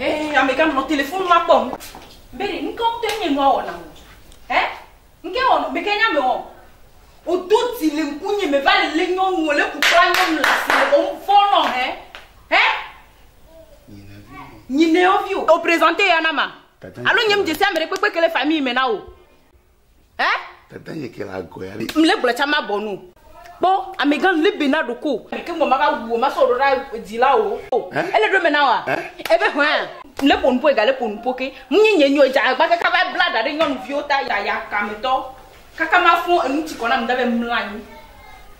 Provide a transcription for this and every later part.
Ee, amegã nɔ telefonu ma kpɔm. Beri, nu ka ŋutɔ nye nua wɔna o? Ɛ? Nu ka wɔna? Meke nya me wɔ. Wodo dzi le ŋkunye me va le lé nyɔnu o, lé kukla nyɔnu le asi le wɔm fɔ nɔ hɛ. Hɛ? Nyinɛwo vi o. O prezante ya na ma. Alo nye m dze si ame ɖe kpekpe ke le famille me na o. Eh? Dada nye ke la goya li. Mle gblɔ cha ma bɔ nu. Kpɔ amegan libi na ɖoko. Ke mo ma va wu ma so ɖoɖa dzi la o. Eh? Ele ɖo me na wa. Eh? Ebe hwa. Mle ponu po ga le ponu po ke. Mu nye nye nyo ja agba ke ka va bla da ɖe nyɔnu viwo ta ya ya ka me tɔ. Kaka ma fo enu tsi kɔna mda be mla nyi.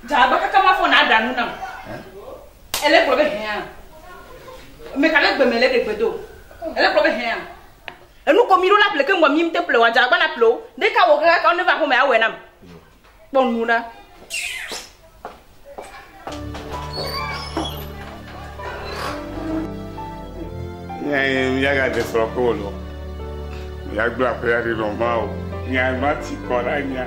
Ja agba kaka ma fo na da nu nam. Eh? Ele gblɔ be hwa. Me ka le gbe me le de gbe do. Ele gblɔ be hwa. Enu ko miɖo la ple keŋ bua mim te ple wadza agbana ple wo. Ɖeka wo kaka kaka ne va home awɔe nam. Kpɔ nu ɖa. Nyɛ ya ga de srɔ ko lo. Ya gbla pe ya de no ma o. Nya ma ti ko la nya.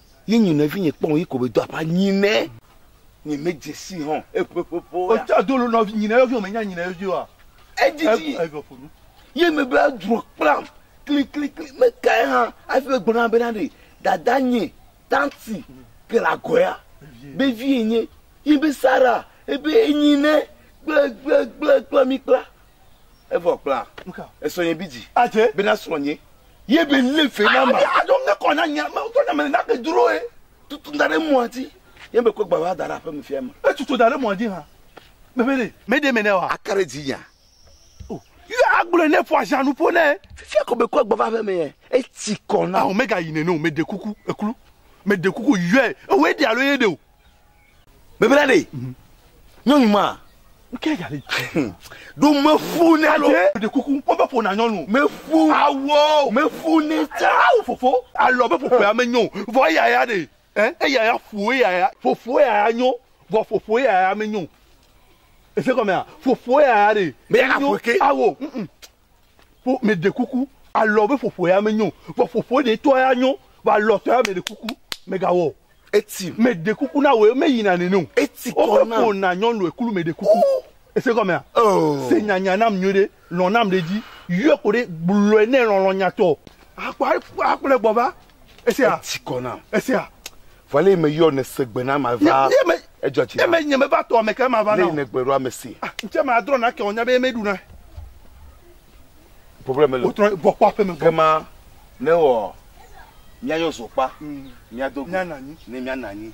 Ye nyi nɔ evi nye kpɔn yi kobe do apa nyi nɛ. Nye me jesi hɔn eƒe ƒeƒe o ya. Ocha do lo nɔ nyi nɛ evi o me nya nyi nɛ evi o ya. Edzi dzi. Evi ƒo nu. Ye me be adro kplam kli kli kli me kae hã afi be gbɔna be na ɖe dada nye tanti ke le agɔ ya be vi ye nye. Ye be sara ebe enyi nɛ kple kple kple kple mi kpla. Evɔ kpla. Nuka. Esɔ nye bi dzi. Adze. Be na srɔ nye. Ye be lé fe na ma. Aya adzɔ ŋe kɔ na nya me ŋutɔ nya me na ke dro ye. Tutu da ɖe mɔa dzi. Ye be kɔ gba va da ɖe aƒe me fia me. E tutu da ɖe mɔa dzi ha. Me be ne me de me ne wa. Aka ɖe dzi nya. O. Ye agblɔ ne fɔ ajan nu ƒo ne. Fifia ko be kɔ gba va aƒe me ye. E tsi kɔ na. Aho me ga yi ne no me de kuku eklu. Me de kuku yɔe. Ewe de alo ye de o. bebla ɖe nyɔnu ma ke yali do me fu ne alo de kuku mo be ƒona nyɔnu me fu awɔ me fu ne tsa awo fofo alɔ be fofo ya me nyo vɔ ya ya de eh eya ya fu ya ya fofo ya ya nyo vɔ fofo ya ya me nyo ese kɔmɛ a fofo ya ya de me ya ka fo ke awo mm, mm. Ƒo meɖe kuku alɔ be ƒoƒo ya menyo o. Vɔ ƒoƒo ɖe tɔ ya nyo. Vɔ alɔ tɔ ya meɖe kuku megawɔ. Eti. Meɖe kuku na wòe meyina nene o. Eti tɔ na. Womeƒo na nyɔnu eklu meɖe kuku. Ese gɔmea? Oh. Se nyanya nam nyuiɖe. Lɔ̃ nam ɖe edzi. Yɔe koɖe. Gblɔe nɛ lɔlɔ̃nyatɔ. Akpɔ akplɔe gbɔ va. Esia. Etsi kɔ nam. Esia. Vɔ lé me yɔ ne se gbe na ma va. Ye me. Edzɔ tsi. Ye me nye me va tɔ ame ke ma va na. Lé ne gbe ɖo ame si. Ah, ntse ma adrɔ na ke onya be me ɖu na. Problème le. Wotrɔ bɔ kpɔ aƒe me. Ke ma ne wɔ. Mia yɔ zokpa. Mia do. Mia nanyi. Ne mia nanyi.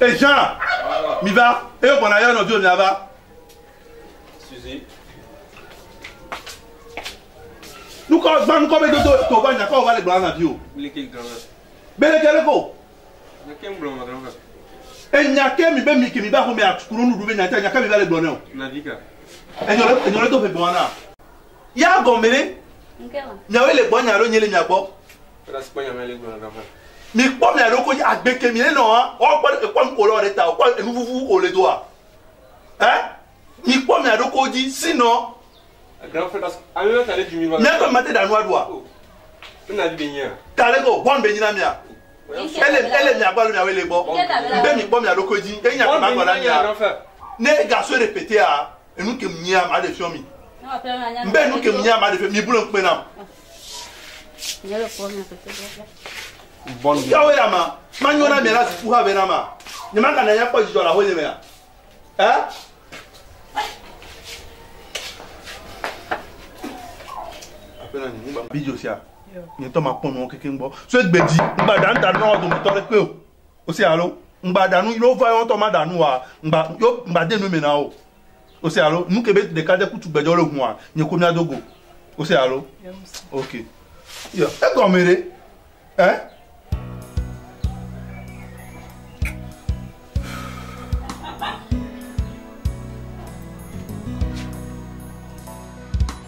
Eheã, miva, eyo gbɔna yɔ nɔviwò miava. Suzi. Nukɔ gbã nukɔ be dodo to va nyakɔ va le gbɔna na viwò. Biliki granvɛ. Bele kele ko. Nyake ŋgblɔ ma granvɛ. Enya ke mi be mi ke mi va xome akunu nuɖu be nya ta nya ke mi va le gbɔ ne o. Na vi ka. Enyɔ le enyɔ le do ƒe gbɔna. Ya gɔme ne. Miawe le gbɔ nya ɖo nye le mia gbɔ. Mi kpɔ mia ɖo ko dzi agbe ke mi enɔ hã wɔn kpɔ ekpɔ nu ko lɔ ɖe ta o kpɔ enu vuvu ko le do a ɛ mi kpɔ mia ɖo ko dzi si nɔ. Mia tɔ mi ma te da nua ɖo a. Ta le ko bɔn be nyi na mia. Ele ele mia gbɔ alo mia wo ele gbɔ. Be mi kpɔ mia ɖo ko dzi. Enya kpɔ ma gbɔ na mia. Ne gasue ɖe pete a. enu ke mia ma ɖe fiɔ mi mbe enu ke mia ma ɖe fiɔ mi bolo ŋkpe nam. Yawe la ma ma nyɔ na mia la ziku ha vɛ na ma nye ma kana ya kpɔ dzidzɔ la ho nye mea ɛ. Bidio sia nyetɔ ma kpɔ nɔ keke ŋgbɔ so egbe dzi ŋgbadanta nɔ dome tɔ ɖe kpe o. O se alo ŋgba ɖa nu yi wova yɔ ŋutɔ maɖa nu wa ŋgba yo ŋgba de nu me na wo. O se alo nu ke be ɖeka de kutu gbedzɔ le hua nye ko mia dogo. O se alo ok yɔ egɔme ɖe ɛ. Eh?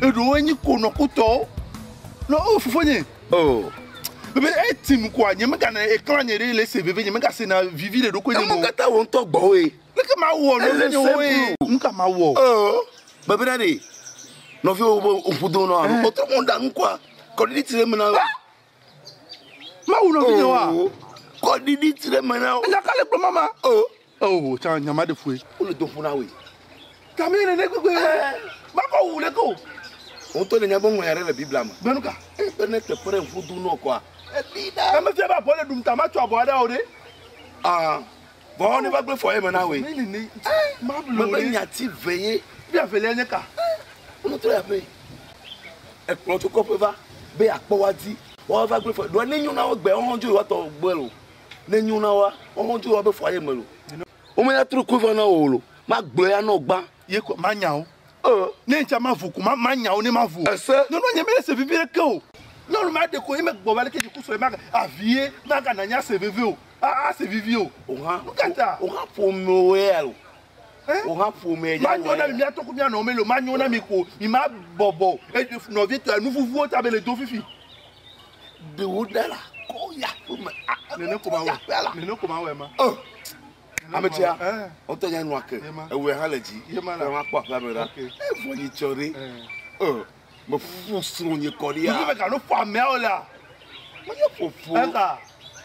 Eɖewo enyi konɔkutɔwo. No, oh, fofonye. Oh. Bebe eti nu koa, nye megana eklã nye ɖe le se veve, nye mega sena vivi le ɖokui nye mo. Emo kata wo ŋutɔ gbɔ oe. Leke ma wɔ no le nye oe? Nuka ma wɔ? Oh, bebe na ɖe. Nɔvi wo be ŋku do nɔ alo kpɔtɔ mo ɖa nu koa, kɔ ɖiɖi ti le me na wo. Ma wu nɔvi nye wa. Oh, kɔ ɖiɖi ti le me na wo. Nya ka le kplɔ mama? Oh. Eo ho tsã nya ma ɖe fue. Wole do ƒo na woe. Ka mee nènɛ gbegbe? Makɔ wu ɖeke o. Wò ŋutɔ nènya be ŋɔnya ɖe le Biblia me. Be nuka? Eye be ne teƒe ɖe ŋu do nɔ kɔa, elée ɖa. Ne mefia be abɔ le ɖum ta matso abɔa ɖa o ɖe? Aa, vɔ wane va gblɔe fɔ eye mena woe. Mebe nya ti ve ye. Be avelia nye ka? Wotrɔ yi aƒee. Ekplɔ tso kɔƒe va be yeakpɔ woa di. Woava gblɔe fɔ ye. Ɖoa nenyo na wo egbea, woawo hã wodzo yewoatɔ gbɔe o. Ne nyo na wa, wɔwɔ dzo wa be fɔ aye me lo. Wome ya tro koe va na wɔ lo. Ma gblɔ ya nɔ gba. Ye kɔ ma nya wo. Uh. Ne nca ma vo ko ma ma nya wo ne ma vo. Ese. Nyo nɔ nye me se veve ɖe ke o. Nyɔnu ma ɖeko ye me gbɔ va le ke dziku sɔ ye ma ga avi ye ma ga na nya se veve o. A a se vivi o. Oha. Nu kata. Oha fo me o ye alo. Eh. Oha fo me ya. Ma nyo na mi mi atɔ ko mi anɔ me lo ma nyo na mi ko mi ma bɔbɔ e nɔ vi tɔ ya nu vuvuo ta be le do fifi. ɖewo ɖe la kɔ ya ƒe me nene ko ma wɔ nene ko ma wɔ ma ame tia ɔtɔ nya nua ke ewe ha le dzi ye ma la ma kpɔ aƒe me la evɔ yi tsɔ ɖe ɔ me fu srɔnye kɔ ɖe ya me ka no fɔ ameawo la me ye fofo ɛka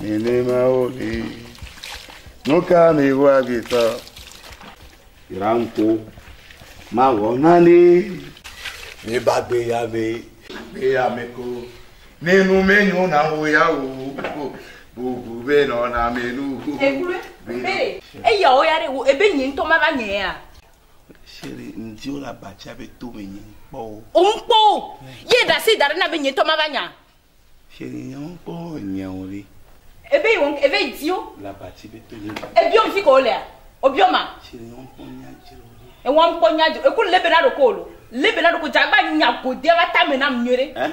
Nenemawo li. Nu ka miwoa vitɔ? Ranko, mawɔ nane ne bagbe ya be. Be ya me ko, ne nu me nyo na wo ya wo, bubu be nɔ na me nu. Ekulu, be, eya wo ya de wo, ebe nye ntɔ ma va nye ya. Chéri, ŋdi wo la batsia be to me nye ŋkpɔ wo. O ŋkpɔ wo, ye da si da ɖe na be nye ntɔ ma va nya. Chez les gens encore nyɛwòli. Ebe yi wɔm eve idiot. La bati be to nyɛ. Ebiɔ mi fi ko wolea? Obiɔ ma. Chez les gens encore nya dzroli. Ewɔm kpɔ nya dzro eku lebe na ɖoko wolo. Lebe na ɖoko dzagba nya godea va tame nam nyuie ɖe. Eh?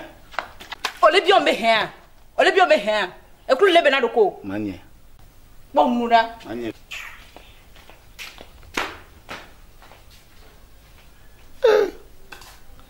Ole biɔ mi be hɛa. Ole biɔ mi be hɛa. Eku lebe na ɖoko. Manye. Kpɔ nu ɖa. Manye. Eh.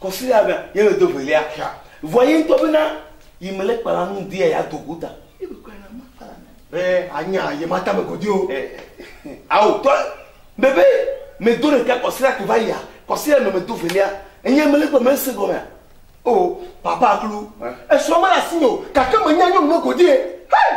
Kɔsiɖa be ye me do velia xia. Vɔ ye ŋutɔ bena yi me le kpala nu ŋdi ya ya do go ta. Ye me kpala na ma kpala na. Be anya ye ma ta me godi o. Awo tɔ be be me do ɖeka kɔsiɖa ke va yia. Kɔsiɖa nɔ me do velia. Enye me le gbe me se gɔmea. O papa klu. Esɔ me la si me o. Kake me nya nyɔnu me godi e. Hey!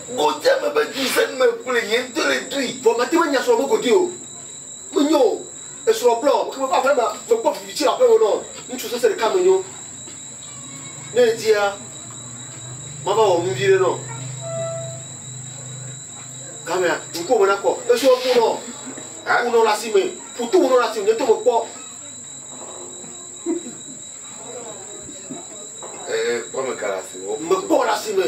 Godui eme be du sia du me koe nye ŋutɔ le dui. Vɔ mate ŋu anya srɔ̃ be godui o. Menyo o. Esrɔ̃ blɔ ƒe ƒe aƒe mea, mekpɔ vivi tsi le aƒe me nɔ ŋutsu sese ɖeka menyo. Ne edia, mava wɔ nu viɖe nɔ. Gamea, ŋkuwò me nakɔ. Esrɔ̃ ƒu nɔ ƒu nɔ le asi me. Ƒu to ŋu nɔ le asi me. Nye ŋutɔ mekpɔ. Ee, kpɔ me ka le asi me. Mekpɔ le asi me.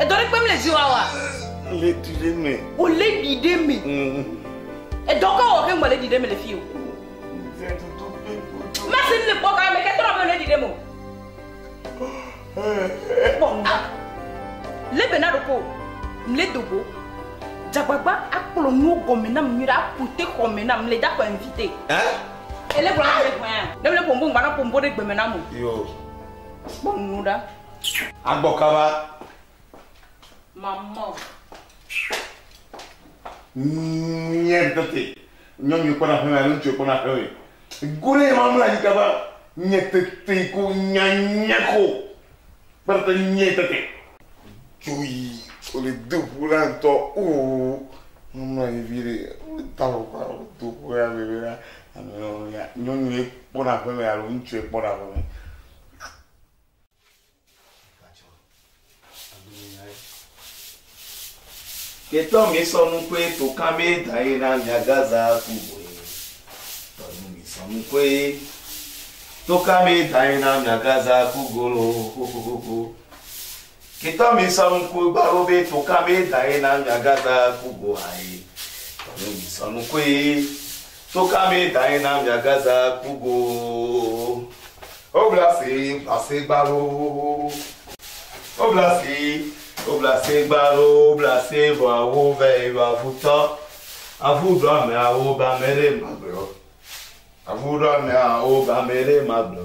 Edɔ ɖe kpem le zi wa wa. Le ɖi ɖe me. O le ɖi ɖe me. Edɔ ka wɔ ke ŋgbɔ le ɖi ɖe me le fi o. Masi le kpɔ ka me ke tɔnɔ be le ɖi ɖe me o. Kpɔ a. Le bena ɖo ko. Mle dogo. Dzagbagba akplɔ nuwo gɔme na mnyuɖe akute xɔme na mle da kɔ invite. Ele gblɔ na mle gɔme. Ne mle pombo ŋgbana pombo ɖe gbeme na mo. Yo. Kpɔ nuɖa. Agbɔ kaba. Mamɔ. Nye tete. Nyɔnu kpɔna ƒeme alo ŋutsu kpɔna ƒeme. Gore ma mla nyi kaba. Nye tete ko nyanya ko. Kpɛrɛtɛ nye tete. Dzoyi. Ole do ƒu la ŋutɔ. Oo. Mamla nyi vi ɖe. Ta wɔ kpa o. Do ƒu la bebe la. Nyɔnu kpɔna ƒeme alo ŋutsu kpɔna ƒeme. Ketɔ mi sɔ nukoe to kame da ye na mia gaza ku boe. Tɔ nu mi sɔ nukoe to kame da ye na mia gaza ku golo xoxoxo. Ketɔ mi sɔ nukoe gbaro be to kame da ye na mia gaza ku go aye. Tɔ nu mi sɔ nukoe Tso ka mee dae na miagaza ku go obla si blase gbalo obla si obla se gbalo obla se vɔ awo vɛ yɔ avu tɔ avu ɖɔ amea wo ba mɛ ɖe magblɔ avu ɖɔ amea wo ba mɛ ɖe magblɔ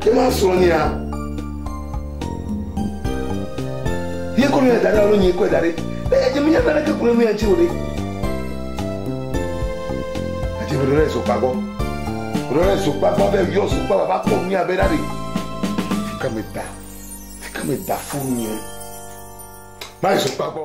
Ke ma srɔ̃ nia. Ye kɔ nu ya da ɖe alo nye kɔe da ɖe. Eye dze menya nane ke kple nu ya ŋuti o ɖe. Adze me ɖo ɖe zokpa gbɔ. Ɖo ɖe zokpa gbɔ be yɔ zokpa va va kpɔ nu ya be ɖa ɖe. Fika me da. Fika me da furu nye. Ma zokpa gbɔ.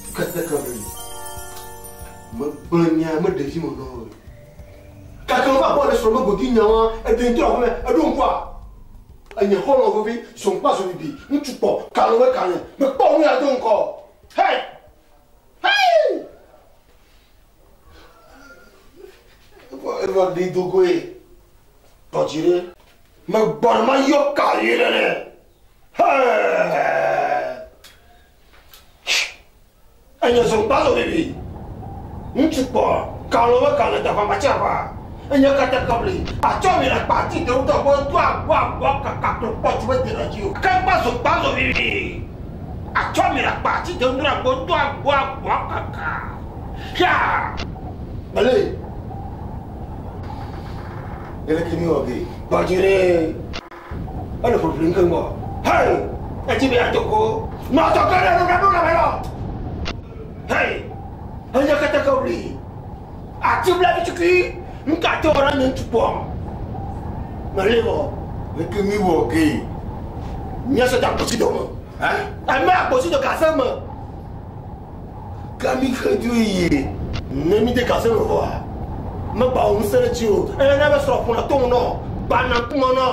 Keteke me yi. Megblẽ nya me ɖevi me nɔ ɣe. Gake wova bɔ le srɔ̃ me godu nya wa eɖe ŋutɔ aƒeme eɖo ŋkua. Enye xɔlɔ veve zɔnkpa zɔbibi ŋutsu kpɔ kalɔ me kane mekpɔ nu ya do ŋkɔ. Hey! Hey! Eva ɖi dogoe. Tɔdzi ɖe. Megbɔna ma yɔ ka yi ɖe ne. Hey! Enye zokpazo bibi. Ŋutsu kpɔ kalɔ be kalɔ da ƒama tse ƒa. Enye kete kɔbli. Atsɔ mi le kpa ti dewu tɔ gbɔ do agbo agbo kaka kple kpɔ tsi be dena dzi o. Kekpa zokpazo bibi. Atsɔ mi le kpa ti dewu do agbo do agbo agbo kaka. Xia. Mele. Ele kimi wa bi. Gbadzi ne. Ele ʋliʋlim keŋ bɔ. Hei! Edi be yeado go. Nɔ adzɔge ɖe nuɖaɖola me nɔ. Hei! Enye keteke ʋli. Ati blavi tukui. Nu ka te wɔ na nye ŋutsu kpɔ? Meli wɔ. Leke mi wɔ ge? Nye sɔdza kpɔtsi dome. Eme akpɔtsi do gaze me. Ke mi xe dzoe yie. Ne mide gase me vɔa, megbawɔ ŋusẽ ɖe tsiwò o. Eye ne ebe srɔ̃ ƒona tom nɔ, gbana ŋkume nɔ,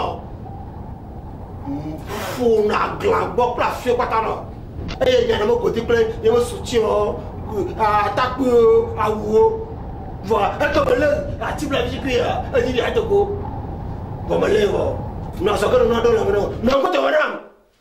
ƒona glã gbɔ kple afiɔ kpata nɔ, eye nya ɖe me godi kple ye me su tsiɔ, atakpuiwo, awuwo, vɔa eke me lé ati blavi dzi kpee ya, edzi ɖi ade go, vɔ melée vɔ. Nɔ azɔge nɔ nua ɖo lãme nɔ, nɔ ŋkɔ dɔme nam.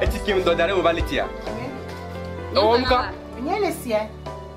Eti kem dɔ da ɖe mo va le tia. Ewɔ nuka? Nye le sia.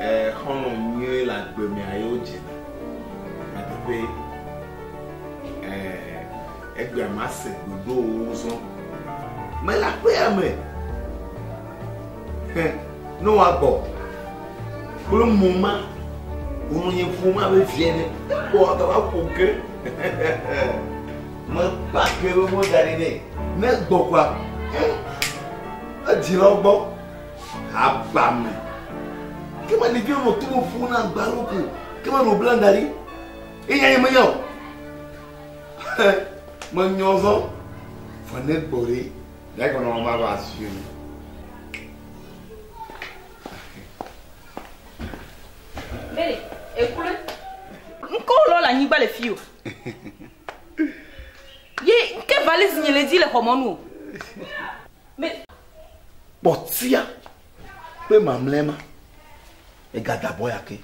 Ɛɛ, xɔlɔ̃ nyui le agbe mea yewo dzena. Nyateƒee. Ɛɛ, egbea mase ɖoɖowo zɔ. Mele aƒea me. Hẽ, ne woagbɔ. Kple mo ma, wonɔ nye ƒomea be viɛ ne. Ekpɔ agava ƒo ke. Mekpa ke be mɔ da ɖi nɛ. Ne gbɔgba, hẽ, edzilawo gbɔ. Abame. Ke ma ɖevi nɔ to ƒo na gbalo ko. Ke ma ɖo blanda ɖi. Eya ye meya o. Menyɔ zɔ. Fane gbɔ ɖi. Ya gbɔ nɔ ma ba si mi. Mele, ekule. Ŋkɔ lɔ le anyigba le fi o. Ye nke valise nye le di le xɔmɔnu o. Me. Kpɔtia kpe mamlɛ ma. Ega da bɔ ya ke.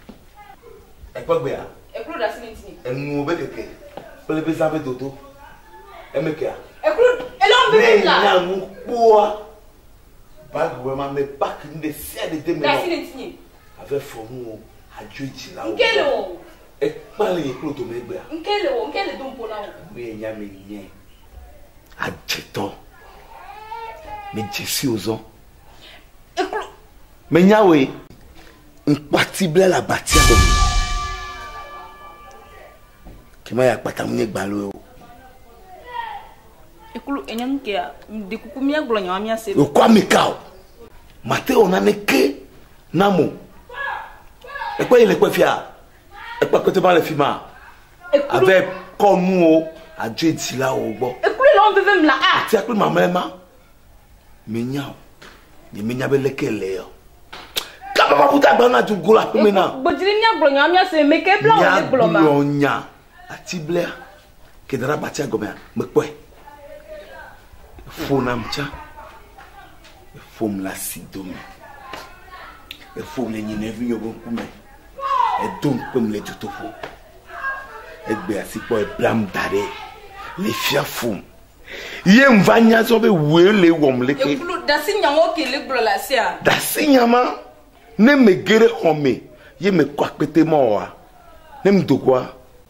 Ekpɔ gbea. Eklo ɖa sini tini. Enuwo be keke. Kple be zã be dodo. Eme kea. Eklo elɔn be keke la. Ne nya nu kpɔa. Bible be ma me pak nu ɖe sia ɖe de me. Ɖa sini tini. Ave fɔ nuwo. Adzo edzi la wo. Nke le wo. Ekpa le eklo dome gbea. Nke le wo. Nke le do mpo na wo. Enu ye nya me nye. Adzetɔ. Medze si wò zɔ. Eklo. Menya wòe. Ŋkpati ble le abatia gɔme. Kema ya kpata mu nye gbaloe o. Eklo enye nu kea, ɖe kuku míagblɔ nya wa míase. Wòkɔ ami ka o. Mate wɔ naneke nam o. Ekpe yi le kpe fia. Ekpe kpete va le fi ma. Ave kɔ nuwo adzoe dzilawo gbɔ. Ekplu le ɔnveve mla a. Ti akpli mamlɛ ma. Menya o. Nye menya be leke le o. Kaba ma kuta gba na tu gola pe mena. Gbedzri mia gblɔ nya mia se me ke bla o le gblɔ ma. Mia gblɔ nya ati blea ke dara batia gomea me kpɔe. Fo nam tsa. Fo mla si dome. Fo mle nyi ne vi yo bo kume. Edom kpem le dzotoƒo. Egbe asikpɔ eblam da ɖe le fia fum. Ye ŋ va nya zɔ be wue le wɔm le ke. Ekplu dasi nya wo ke le gblɔ le asia. Dasi nya ma ne me ge ɖe xɔ me ye me kɔ akpete ma wɔa ne m dogoa.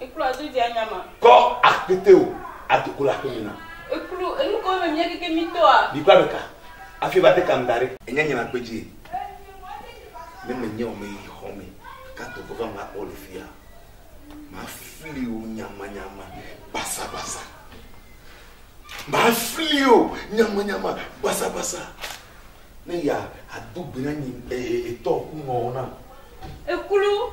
Eklua do dze anya ma. Kɔ akpete o ado kolo aƒe me na. Eklu enu ko me mia keke mi tɔa. Mi kpla ɖeka afi va de kam da ɖe. Enye nye na kpe dzi ne me nye o me yi xɔ me ka do vɔvɔa me akpɔ le fia ma fli o nyama nyama basa basa ma fli o nyama nyama basa basa ne ya adu gbe na nyi etɔ kunɔ na. Eklu